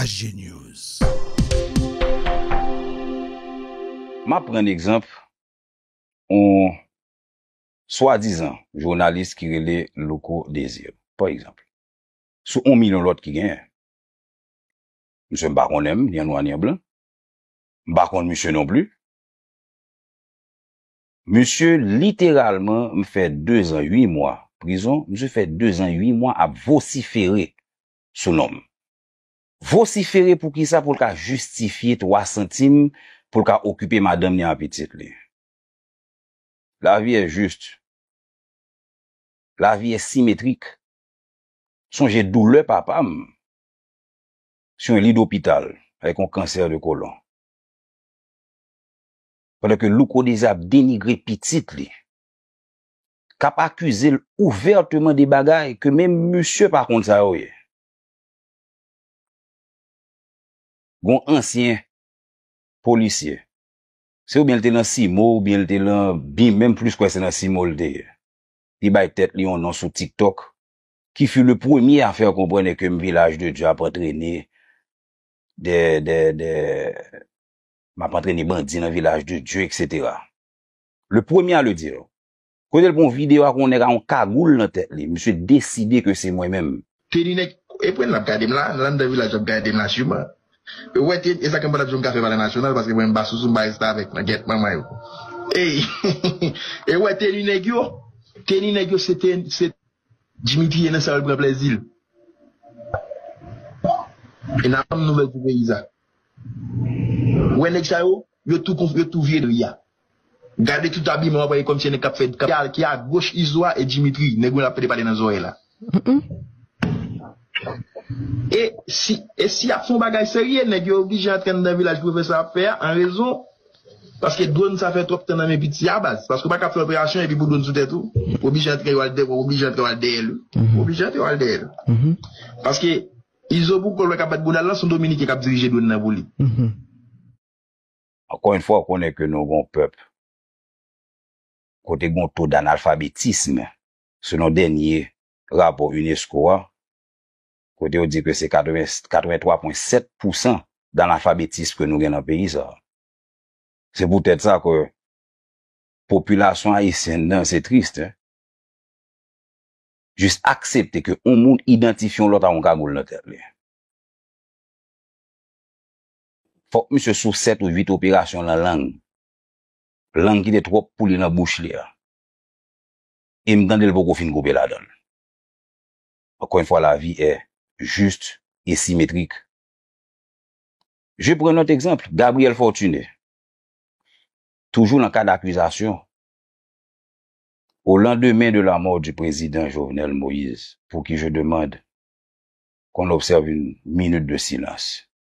HGNews. M ap pran egzanp yon swadizan jounalis ki rele Louko Desir, pa egzanp, sou yon milyon lòt ki genyen. Msye m pa konnen m, ni an nwa ni an blan. M pa konn msye non pli. Msye literalman m fè dezan ui mwa prizon, msye fè dezan ui mwa ap vosifere sou non m. Vosifere pou kisa pou l ka jistifye 3 santim pou l ka okipe madanm li an pitit li. Lavi è jist. Lavi è simetrik. Sonje doulè papa m sou yon li dopital avèk yon kansè de kolon. Pandan ke Louko Dezi ap denigre pitit li. kap akizel ouvertement de bagay ke menm misye pa konn sa yo ye. Gon ansyen polisye, se oubyen li te nan CIMO oubyen li te lan bim, menm plis kwè se nan CIMO li te ye, li bay tèt li yon non sou tiktok ki fut le premier à faire comprendre que m Village de Dieu ap antrene de de de map antrene bandi nan Village de Dieu etc. Le premier à le dire. Kote l pran yon video ak yon nèg ak yon kagoul nan tèt li. Misye deside ke se mwen menm. Teni nèg epwen lap gadem la nan landan vilaj lap gadem la sûrement ou wè teni esa knpa lap diw mka fè palè nasyonal paske mwen mpa sousou mpa restavèk nan gèt manman yo eyy ee ou wè teni nèg yo teni nèg yo se teni se Dimitri ye nan sa yo pran plèzil e nap tann nouvèl pou peyi sa ou wè nèg sa yo yo tou konf yo tou vye dri a Gade tout abiman wap wè e komsi e nèg kap fè ki a goch izo a e Dimitri nèg mwen ap pede pale nan zorey la e si e si yap fon bagay serye nèg yo oblije antre andan vilaj pou yo fè sa yap fè a an rezon paske dron sa fè twòp tan nan men piti a baz paske ou paka ap fè operasyon epi pou dron sou tèt ou ou oblije antre yo al dèyè ou oblije antre yo al dèyè li ou oblije antre yo al dèyè li paske izo pou kòl wè kap bat boudal lan son dominiken kap dirije dron nan pou li. Ankò yn fwa ou konnen ke nou gon pèp kote gon to d'analfabetism selon dènye rapò unesco a kote yo di ke se 83.7 pousan d'analfabetism ke nou gen nan peyi sa. Se pou tèt sa ke popilasyon ayisyen nan se trist hein jis aksepte ke on moun idantifye on lòt a on kagoul nan tèt li. Fòk misye sou 7 ou 8 operasyon lan lang. Lang ki te twòp pou li lan bouch li a. E m tande l poko fin koupe ladan l. Ankò yn fwa la vi è jist e simetrik. Je pran lòt egzanpl, Gabriel Fortuné. Toujou lan kad akizasyon. Au lendemain de la mort du Président Jovenel Moïse, pour qui je demande qu'on observe une minute de silence.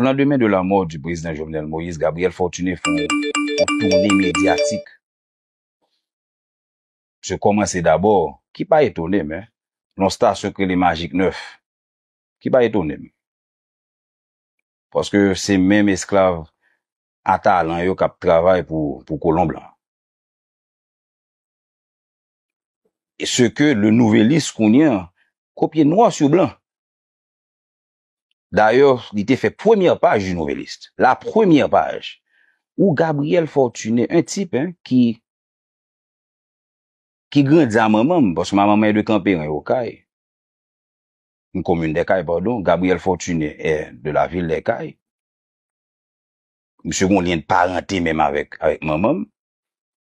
O landemen de la mort du Prezidan Jovenel Moïse, Gabriel Fortuné fè yon toune medyatik. Msye kòmanse dabò, ki pa etone m, nan yon stasyon k rele Magic 9, ki pa etone m. Paske se menm esklav a talan yo k ap travay pou kolon blan. se ke Le Nouvelliste kounye an kopye nwa sou blan. Dayè, li te fè premyè paj Le Nouvelliste, la premyè paj, ou Gabriel Fortuné, un type ki ki grandi a manman m, paske manman m est de Camp-Perrin, Okay, une commune des Cayes, pardon, Gabriel Fortuné est de la ville des Cayes. Misye gen yon lyen de parente menm avèk manman m.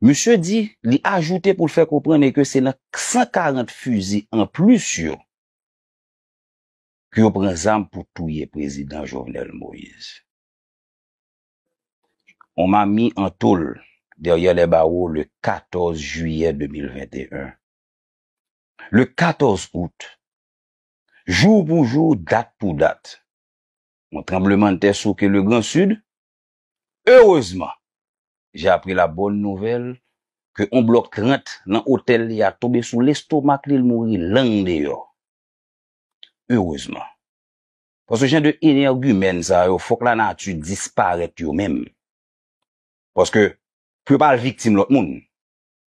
Misye di, li ajoute pou l fè konprann e ke se nan 140 fizi an plis yo ke yo pran zam pou touye prezidan Jovenel Moise. On m'a mis en tôle derrière les barreaux le 14 juillet 2021. Le 14 août, jour pou jour, date pou date, on tranblemanntè souke le Grand Sud, Erezman, j'ai appris la bonne nouvelle ke on blòk 30 nan otèl li a tonbe sou lestomak li l mouri lang deyò. Erezman. Paske jan de enègimèn sa yo fòk la nati disparèt yo menm. Paske pou yo pa al viktim lòt moun.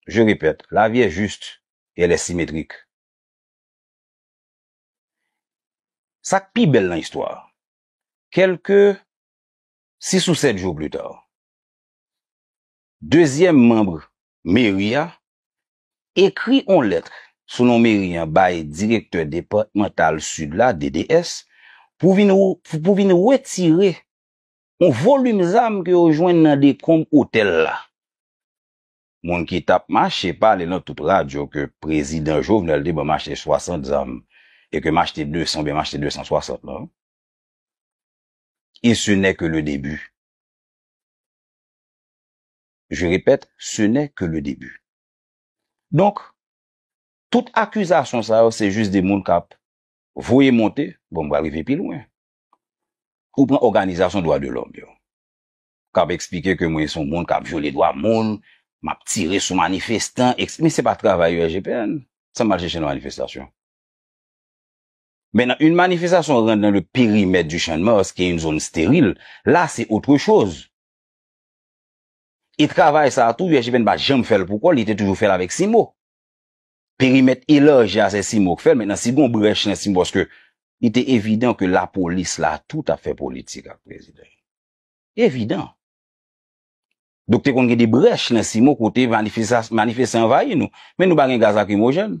Je répète, la vie est juste et elle est symétrique. Sa k pi bèl nan istwa a, kèlke Six ou sèt jou plita, dezyèm manb meri a ekri on lèt sou non meri an bay direktè depatmantal Sid la, DDS, pou vin pou vin wetire on volim zam ke yo jwenn nan dekonb otèl la. Moun ki t ap mache pale nan tout radyo ke prezidan Jovenel te ban m achte swasant zam e ke m achte desan oubyen m achte desant swasant lan. E se nè ke le debi. Je repèt, se nè ke le debi. Donk, tout akizasyon sa yo se jis de moun kap voye monte, bon m pral rive pi lwen. Ou pran òganizasyon dwa de lòm yo, kap eksplike ke mwen se yon moun kap vyole dwa moun, map tire sou manifestan, ekse. Men se pa travay yo SGPN, sa m al chèche nan manifestasyon? Men nan yn manifestasyon rant nan le perimèt du Chan Mars ki yn zon steril, la se otre choz. E travay sa tou USGPN pa janm fèl pou kòl, li te toujou fèl avèk CIMO. Perimèt elarji a se CIMO k fèl, mentnan si gon brèch nan CIMO paske li te evidan ke lapolis la tou tap fè politik ak prezidan. Evidan. Donk te konn gen de brèch nan CIMO kote manifestan anvayi nou. Men nou pa gen gaz lakrimojèn.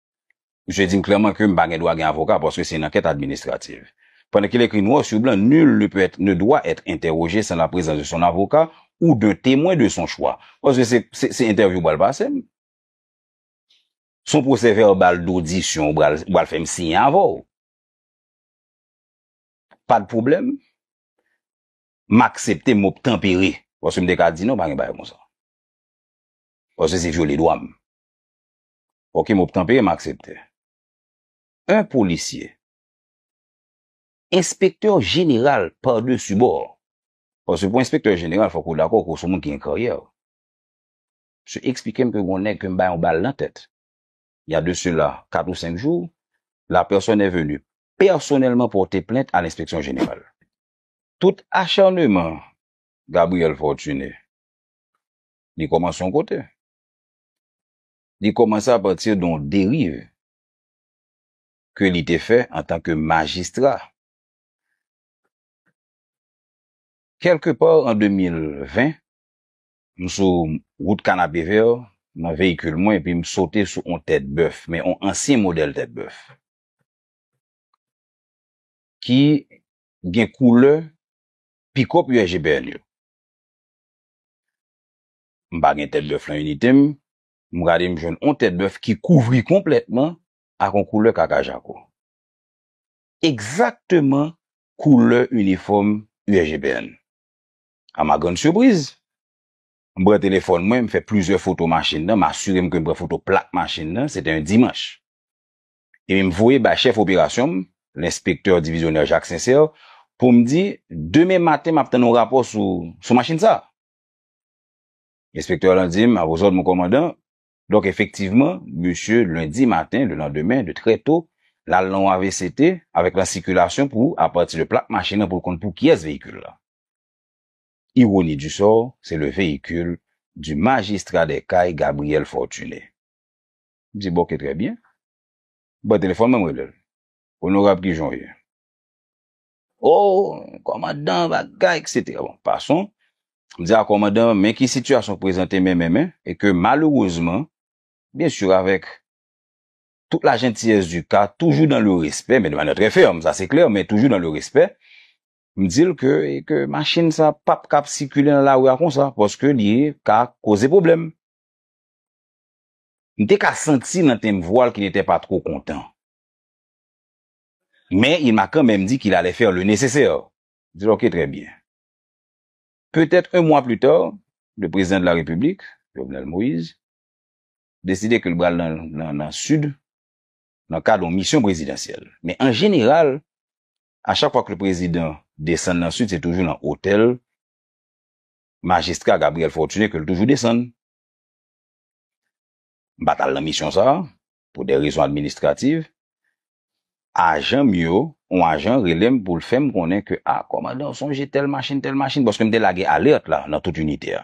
Misye di m klèman ke m pa gen dwa gen avoka paske se yon ankèt administrativ. Pandan ke l ekri nwa sur blan nul ne peut être, ne doit être interrogé sans la présence de son avocat ou d'un témoin de son choix. Paske se, se entèvyou ou pral pase m. Se yon pwosè vèbal dodisyon ou pral, ou pral fè m siyen avè w. Pa de pwoblèm. M aksepte, m obtanpere. Paske m te ka di non, pa gen bagay konsa. Paske se vyole dwa m. Ok m obtanpere m aksepte. 1 polisye. Enspektè jeneral pa desi bò. Paske pou enspektè jeneral fòk ou dakò ke w son moun ki gen karyè. Msye eksplike m ke gon nèg ke m bay yon bal nan tèt. Il y a de cela 4 ou 5 jours, la personne est venue personnellement porter plainte à l'inspection générale. Tout acharnement Gabriel Fortuné, li kòmanse yon kote. Li kòmanse a pati de yon deriv ke li te fè an tan ke majistra. Kèlke pa an 2020, m sou wout Kanapevè nan veyikil mwen epi m sote sou yon tèt bèf, men yon ansyen modèl tèt bèf ki gen koulè pikòp USGPN yo. M pa gen tèt bèf lan inite m. M gade m jwenn on tèt bèf ki kouvri konplètman ak on koulè kaka jako. Ekzakteman koulè inifòm USGPN. A ma grande surprise, m pran telefòn mwen, m fè plizyè foto machin lan, m asire m ke m pran foto plak machin lan, se te yon dimanch. Epi m voye bay chèf operasyon m, lenspektè divizyonè Jacques Sincère, pou m di, demen maten m ap tann on rapò sou machin sa a. Enspektè lan di m, a vos òd mon kòmandan. Donk efektivman, msye lendi maten, le landemen, de trè to, l al nan yon avct avèk lan sikilasyon pou, apati de plak machin lan pou l konn pou kiyès veyikil lan. Ironi du sort, se le veyikil du Magistrat des Cayes Gabriel Fortuné. M di bon ke trè byen. Ban telefòn mwen m rele l. Onorab kijan w ye? Oh kòmandan bagay etc. Bon pason, m di a kòmandan men ki sitiyasyon k prezante men men men e ke malerezman byen sur avèk tout la jentiyès di ka toujou dan le respè men de manyè trè fèm sa se klè men toujou dan le respè m di l ke e ke machin sa pap kab sikile nan lari a konsa paske li ka koze pwoblèm. M te ka santi nan tenb vwa l ke li te pa two kontan. Men il m'a quand même dit qu'il allait faire le nécessaire. Di l ok trè byen. Peut-être un mois plus tard, le Président de la République, Jovenel Moïse, deside ke l bral nan Sud nan kad yon misyon prezidansyèl. Men an jeneral, a chak fwa ke le Prezidan desann nan Sud, se toujou nan otèl Majistra Gabriel Fortuné ke l toujou desann. M pa t al nan misyon sa a. pou de rezon administrativ, ajan m yo, yon ajan rele m pou l fè m konnen ke a, kòmandan ou sonje tèl machin, tèl machin, paske m te lage alèt la nan tout inite a,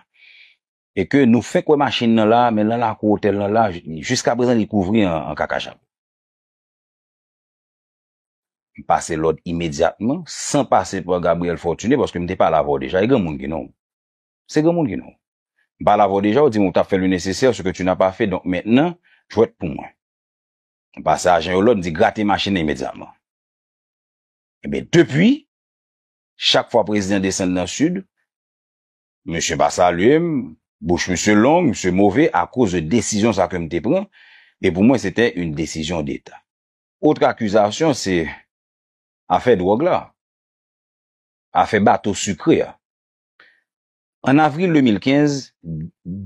e ke nou fenk wè machin nan la, men lan lakou otèl lan la, jiskaprezan li kouvri an kakachat. M pase lòd imedyatman, san pase pa Gabriel Fortuné, paske m te pale avè w deja, e gen moun ki non. Se granmoun ki nou. M pale avè w deja, w di m ou t ap fè le nécessaire, ce que tu n'as pas fait, donk mentnan, jwèt pou mwen. M pase ajan yo lòd, m di grate machin nan imedyatman. Enben, depi, chak fwa prezidan desann nan Sid, misye pa salye m, bouch misye long, misye move akoz de desizyon sa ke m te pran, e pou mwen se te une décision d'Etat. Otre akizasyon se afè dwòg la, afè bato sikre a. An avril 2015,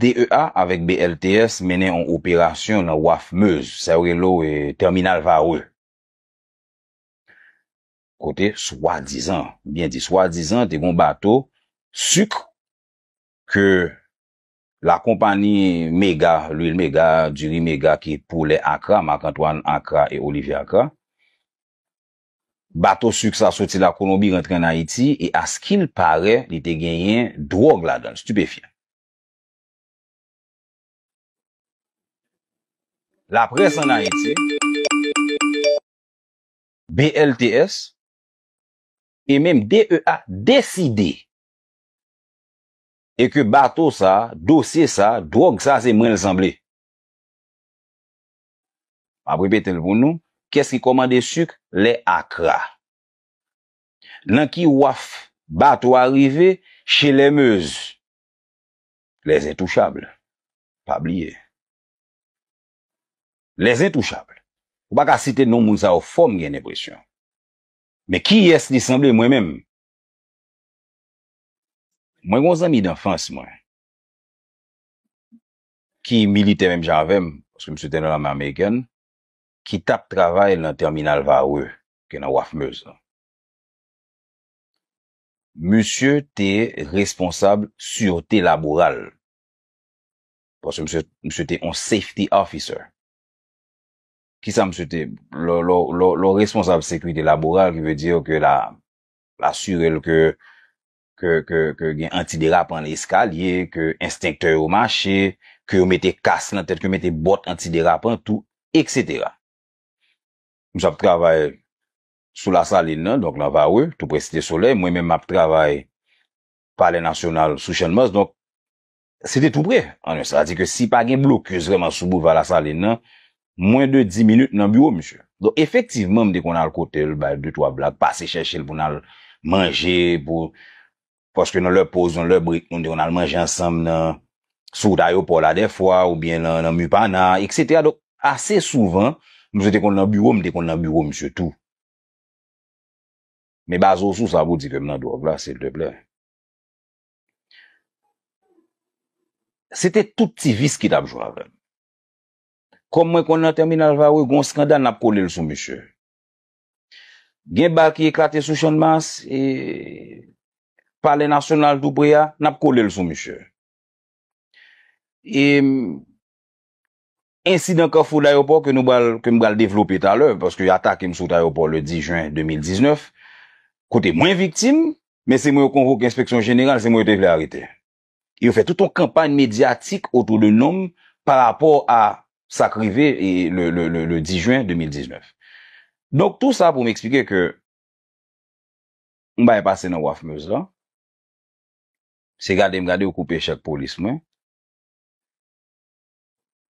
DEA avèk BLTS mennen on operasyon nan waf Meuse, sa yo rele w Terminal Varreux, kote swadizan, m byen di swadizan, te gen on bato suk ke lakonpani Mega, Lwil Mega, Diri Mega ki pou lè Accra, Marc Antoine Accra e Olivier Accra, Bato suk sa soti la Kolonbi rantre an Ayiti e askil pare li te genyen dwog ladan l, stupefyan. Laprès an Ayiti, BLTS, e menm DEA deside e ke bato sa, dosye sa, dwog sa se mwen l sanble. M ap repete l pou nou, Kiyès ki kòmande suk lè akra? Nan ki waf bato a rive chez les Meuse? Les Intouchables, pa bliye. Les Intouchables. Ou pa ka site non moun sa yo fò m gen lenpresyon. Men kiyès li sanble mwen menm? Mwen gen yon zanmi danfans mwen. ki militè menm jan avè m, paske misye te nan lame amerikèn, ki t ap travay nan tèminal Varreux, ki gen nan waf Meuse lan. Misye te responsab sirte laboral, paske misye, misye te yon safety officer. Ki sa misye te, lè, lè w, lè w responsab sekirite laboral, ki vle di ke l a, l asire l ke ke ke ke gen anti derapan nan eskalye, ke enstenktè yo mache, ke yo mete kas nan tèt, ke yo mete bòt anti derapan tou eksetera. Misye ap travay sou Lasalin nan, donk nan Varreux, tou prè Site Solèy, mwen menm map travay Palè Nasyonal sou Channmas, donk Se te tou pre. Anyen sa di ke si pa gen blokis vreman sou Boulva Lasalin nan, mwen de 10 minit nan biwo misye. Donk efektivman m te konn al kote l, bay de twa blag, pase chèche l pou n al manje, pou, paske nan lè poz, nan lè brek nou te konn al manje ansanm nan, sou wout ayopò la dèfwa, oubyen nan, nan Mupana, eksetera. Donk ase souvan, misye te konn nan biwo m, m te konn nan biwo misye tou. Men baze w sou sa pou w di ke m nan dwòg la, silteplè? Se te tout ti vis ki tap jwe avèm. Kòm mwen konn nan tèminal Varreux gon skandal nap kole l sou misye. Gen bal ki eklate sou Channmas e Palè Nasyonal tou pre a, nap kole l sou misye. E Ensidan Kafou Dayopò ke nou pral, ke m pral devlope talè, paske yo atake m sou wout ayopò le 10 jen 2019, kote mwen viktim, men se mwen yo konvoke enspeksyon jeneral, se mwen yo te vle arete. E yo fè tout yon kanpay medyatik otou de non m pa rapò a sa k rive le 10 jen 2019. Donk tou sa pou m eksplike ke yon bagay pase nan Waf Meuse lan, se gade m gade yo koupe chèk polis mwen,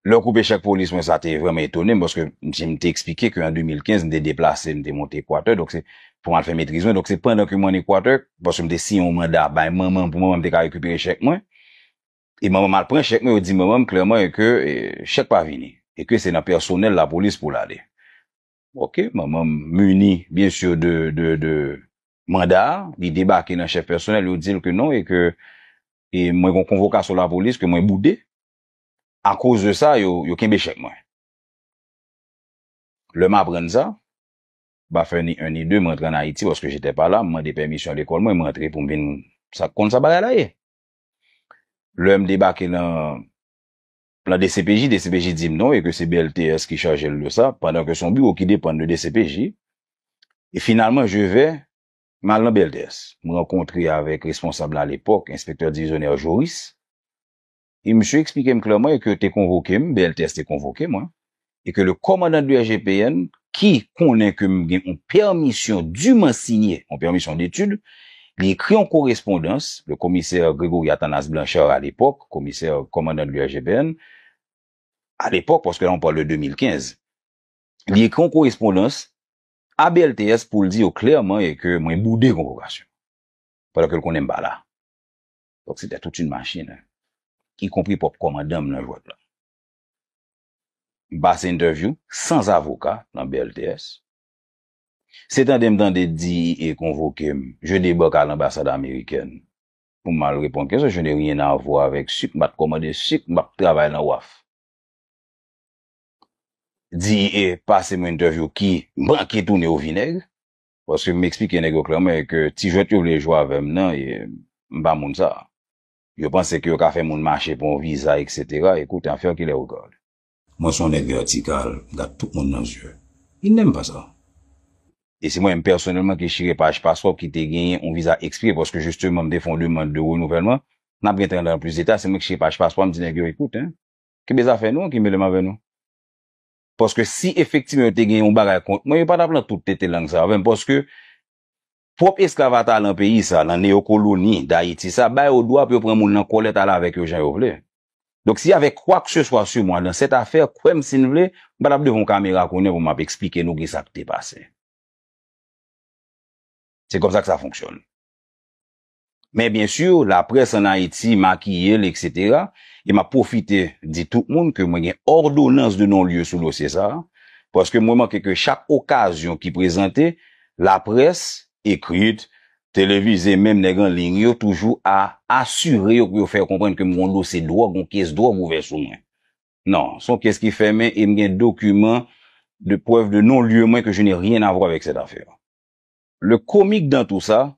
Lè w koupe chèk polis mwen sa te vrèman etone m paske m si m te eksplike ke an 2015 m te deplase m te monte Ekwatè donk se pou m al fè metriz mwen donk se pandan ke m an Ekwatè paske m te siyen yon manda bay manman m pou manman m te ka rekipere chèk mwen e manman m al pran chèk mwen yo di manman m klèman e ke chèk pa vini e ke se nan pèsonèl lapolis pou l ale ok manman m muni byen sur de de de manda a li debake nan chèf pèsonèl yo di l ke non e ke e mwen gon konvokasyon lapolis ke mwen boude A koz de sa yo yo kenbe chèk mwen. Lè m aprann sa, m pa fè ni 1 ni 2 m rantre an Ayiti paske j'étais pas là, m mande pèmisyon lekòl mwen, m rantre pou m vin sa k konn sa bagay la ye. Lè m debake lan lan dcpj, dcpj di m non e ke se BLTS ki chaje l de sa pandan ke son biwo ki depann de dcpj e finalman je vais m al lan BLTS, m rankontre avèk responsab la alepòk, enspektè divizyonè Joris. e misye eksplike m klèman e ke yo te konvoke m, BLTS te konvoke mwen, e ke le kòmandan de IGPN, ki konnen ke m gen yon pèmisyon diman sinye, yon pèmisyon detid, li ekri yon korespondans, le commissaire Grégory Athanas Blanchard à l'époque, commissaire kòmandan de l'IGPN, à l'époque, paske la on parle de 2015, li ekri yon korespondans a BLTS pou l di yo klèman e ke mwen boude konvokasyon, pandan ke l konnen m pa la. Donk se te tout yn machin, ikonpri pwòp kòmandan m nan jwèt lan. M pase entèvyou sans avoka nan BLTS. Se tande m tande DEA konvoke m, je debake a lanbasad amerikèn pou m al reponn kesyon, je n'ai rien à voir avec suk, m pa t kòmande suk, m pa p travay nan waf. DEA pase m yon entèvyou ki manke tounen au vinaigre. Paske m eksplike nèg yo klèman e ke ti jwèt yo vle jwe avè m nan, m pa moun sa. Yo panse ke yo ka fè moun mache pou yon viza eksetera, écoute en faire qu'il les regarde. Mwen son nèg vètikal, m gad tout moun nan zye. Il n'aime pas ça. E se mwen menm pèsonèlman ki chire paj paspò ki te genyen yon viza ekspire paske jisteman m te fè yon demand de renouvèlman, n ap gen tan antre nan plis deta, se mwen ki chire paj paspò a m di nèg yo écoute, kenbe zafè nou an ki mele m avè nou. paske si efektivman yo te gen yon bagay kont mwen yo pa tap lan tout tete lang sa avèm paske pwòp esklav ata lan peyi sa lan neyokoloni dayiti sa ba yo dwa pou yo pran moun lan kòlèt ale avèk yo jan yo vle donk si y'avè kwakseswa su mwa lan sèt afè kwèm sin vle m pa tap devan yon kamera kounye pou map esplike nou ki sak te pase se kòmsa k sa fonksyone. Men byen sur la près an Ayiti makiye l etc. E m ap pwofite di tout moun ke mwen gen òdonans de non lye sou dosye sa a, paske m remake ke chak okazyon ki prezante, la près, ekrit, televize menm nèg an liy yo toujou a asire yo pou yo fè yo konprann ke m gon dosye dwòg, gon kes dwòg ouvè sou mwen. Non, s on kes ki fèmen e m gen dokiman de prèv de non lye mwen ke je n'ai rien à voir avec cette affaire. Le comique dans tout ça,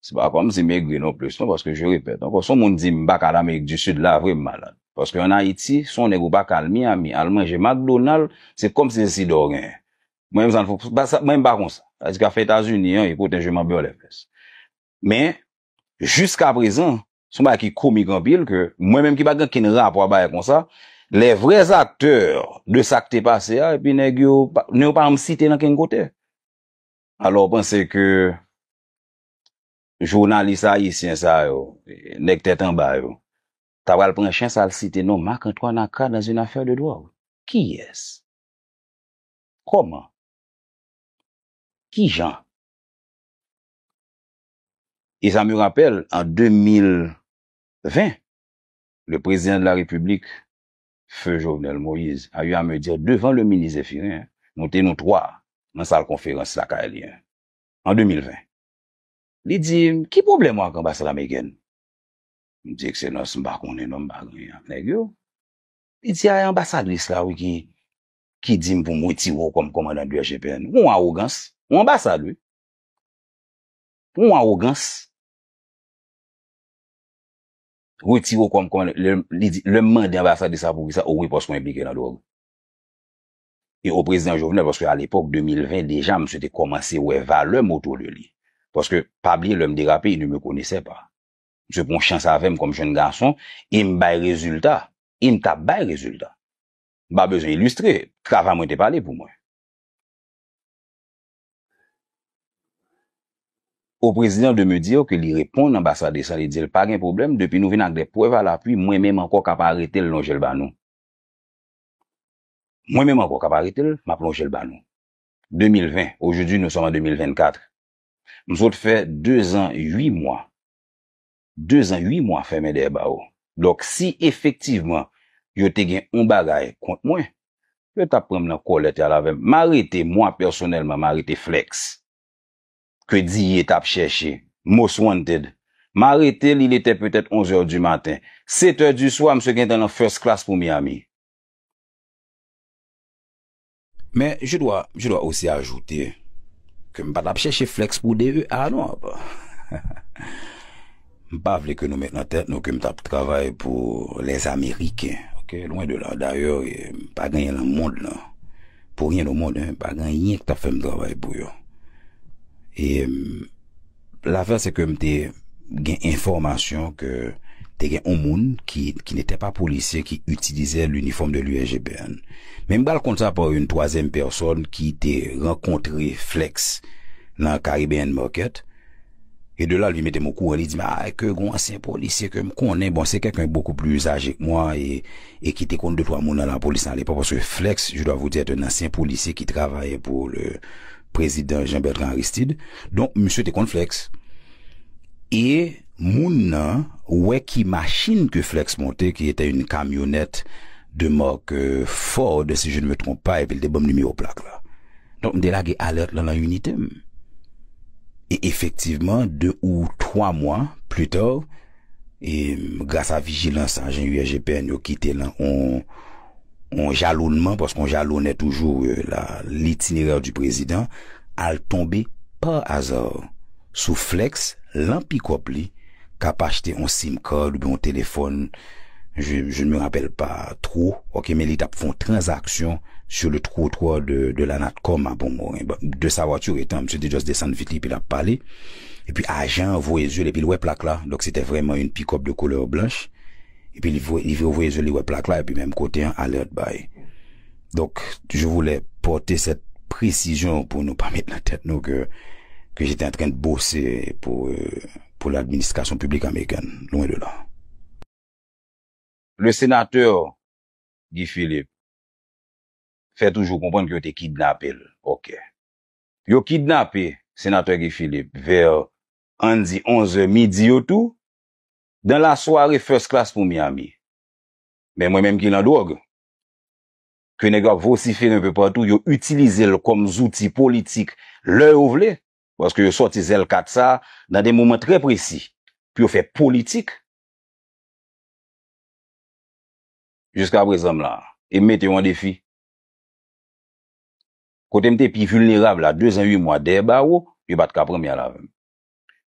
Se pa kòm si m egri non plis non paske je repèt ankò si yon moun di m pa ka al amerik di sid la vre m malad paske an ayiti si yon nèg ou pa ka al miami al manje makdonal se kòm si se sida w genyen mwen menm sa m pa sa mwen menm pa konsa sa di ka fè etazini an écoute un je m'en beurre les fesses men jiska prezan se yon bagay ki komik anpil ke mwen menm ki pa gen ken rapò a bagay konsa les vrais acteurs de sa k te pase a epi nèg yo non yo pa janm site nan ken kote alò w panse ke jounalis ayisyen sa yo, nèg tèt anba yo, ta pral pran chans al site non Marc Antoine Accra dans une affaire de drogue? Kiyès? Kòman? Kijan? E sa me rapèl an 2020, le Président de la République, feu Jovenel Moïse, a eu à me dire devant le ministre Zéphirin, nou te nou 3 nan sal konferans lakay li an, an 2020. Li di m, Ki pwoblèm ou ak anbasad amerikèn? M di, Ekselans, m pa konnen non, m pa gen anyen ak nèg yo. Li di, A, e anbasadris la wi ki ki di m pou m wetire w kòm kòmandan DGPN. Yon awogans! Yon anbasad wi! Yon awogans! Wetire w kòm kòmandan, lè m, li di, lè m mande anbasadris la poukisa, o wi paske w enplike nan dwòg. e o prezidan Jovenel paske alepok 2020 deja misye te komanse wè valè m otou de li paske pa bliye lè m derape il ne me connaissait pas misye pran chans avè m kom jenn gason e m bay rezilta e m tap bay rezilta m pa bezwen ilistre travay mwen te pale pou mwen. Au prezidan de me dire ke li reponn anbasadesan li di l pa gen pwoblèm depi nou vin ak de pwèv a lapwi mwen menm anko kap arete l lonje l ba nou. Mwen menm ankò kap arete l map lonje l ba nou. 2020 aujourd'hui nous sommes en 2024 m sot fè 2 zan 8 mwa 2 zan 8 mwa fèmen dèyè bawo donk si efektivman yo te gen on bagay kont mwen yo tap pran m nan kòlèt yal avè m m arete mwa pèsonèlman m arete Flex ke Diye tap chèche most wanted m arete l il etè petèt 11 è di maten 7 è di swa msye gentan nan first class pou Miami. Men je dwa, je dwa osi ajoute ke m pa t ap chèche flèks pou DEA non. M pa vle ke nou met nan tèt nou ke m t ap travay pou les Américains, ok, lwen de la. Dayè, m pa gen anyen nan mond lan, pou ryen o mond, m pa gen anyen ki t ap fè m travay pou yo. E m. Lafè se ke m te gen enfòmasyon ke te gen yon moun ki nete pa polisye ki itilize linifòm de l'USGPN. Men m pral konn sa pa yon twazyèm pèsòn ki te rankontre Flex nan Caribbean Market. E de la l vin mete m okouran, li di m a ke gen yon ansyen polisye ke m konnen, bon se kèlken bokou pli aje ke mwa e ki te konn de twa moun nan lapolis nan alepòk paske Flex, je dwa vous dire, est un ancien policier qui travaillait pour le. prezidan Jean Bertrand Aristide, donk misye te konn Flex. E moun nan wè ki machin ke Flex monte ki etè yn kamyonèt de mark Ford si je ne me trompe pas epi l te banm nimewo plak la. Donk m te lage alèt lan lan inite m. E efektivman 2 ou 3 mwa plus tard e gras a vijilans ajan USGPN yo ki te lan on yon jalounman, paske yon jaloune toujou la, l'itinéraire du président, al tonbe par hasard sou Flex lan pikòp li k'ap achte yon sim card oubyen yon telefòn, je je ne me rappelle pas trop, ok, men li t'ap fè yon transaksyon sur le trottoir de de la Natcom a Pont-Morin, bon, de sa voiture étant, misye te just desann vit li epi l'ap pale, epi ajan an voye zye l' epi l' wè plak la, donk se te vrèman une pick-up de couleur blanche. Epi li voye li vire voye je li wè plak la epi menm kote an alert bay. Donk je voulais porter cette précision pou nou pa met nan tèt nou ke ke j'étais en train de bosser pour pour l'administration publique américaine, loin de là. Le sénateur Guy Philippe fè toujou konprann ke yo te kidnape l. Ok. Yo kidnape Senatè Guy Philippe vers ann di 11 è midi yo tou Dans la soirée first class pou Miami. Men mwen menm ki lan dwòg, ke nèg yo ap vosifere enpe patou, yo itilize l kòm zouti politik lè yo vle, paske yo sòti zèl kat sa nan de moman trè presi pou yo fè politik. Jiskaprezan m la, e m mete yo an defi. Kote m te pi vilnerab la, dezan ui mwa dèyè bawo, yo pa t ka pran m y al avè m.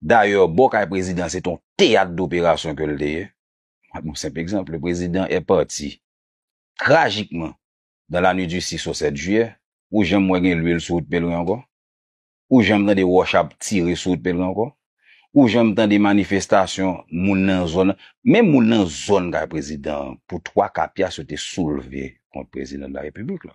Dayè, bò kay prezidan an se te yon teyat doperasyon ke l te ye. Map yon senp egzanp, le prezidan è pati trajikman dan la nwit di 6 o 7 jiyè, ou janm wè gen lwil sou wout Pelren ankò? Ou janm tande wòch ap tire sou wout Pelren ankò? Ou janm tande manifestasyon moun nan zòn nan? Menm moun nan zòn kay prezidan an, pou twa ka pyas yo te soulve kont prezidan de la Repiblik la.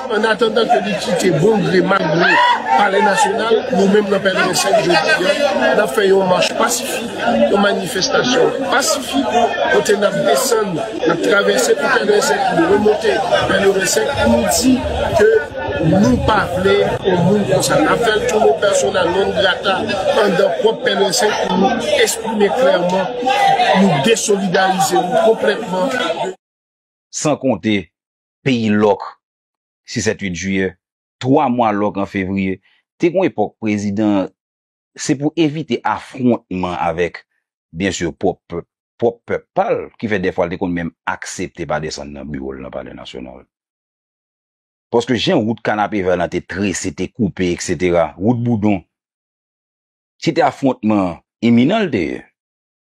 An atandan ke li kite bon gre mal gre Palè Nasyonal, nou menm nan pèleren 5 jodi an, n ap fè yon mach pasifik, yon manifestasyon pasifik kote n ap desann, n ap travèse pou pèleren 5 pou nou remonte pèleren 5 pou nou di ke nou pa vle yon moun konsa. N ap fè l tou nou pèsona non grata andan pwòp pèleren 5 pou nou esprime klèman nou desolidarize nou konplètman de. San konte, peyi lòk si 7 8 jiyè, 3 mwa lòk an fevriye, te gon epòk prezidan an se pou evite afwontman avèk byen sur pwòp pèp pwòp pèp pa l ki fè dèfwa l te konn menm aksepte pa desann nan biwo l nan palè nasyonal. Paske jan wout kanapevè lan te trese, te koupe eksetera, wout boudon, se te afwontman iminan l te ye.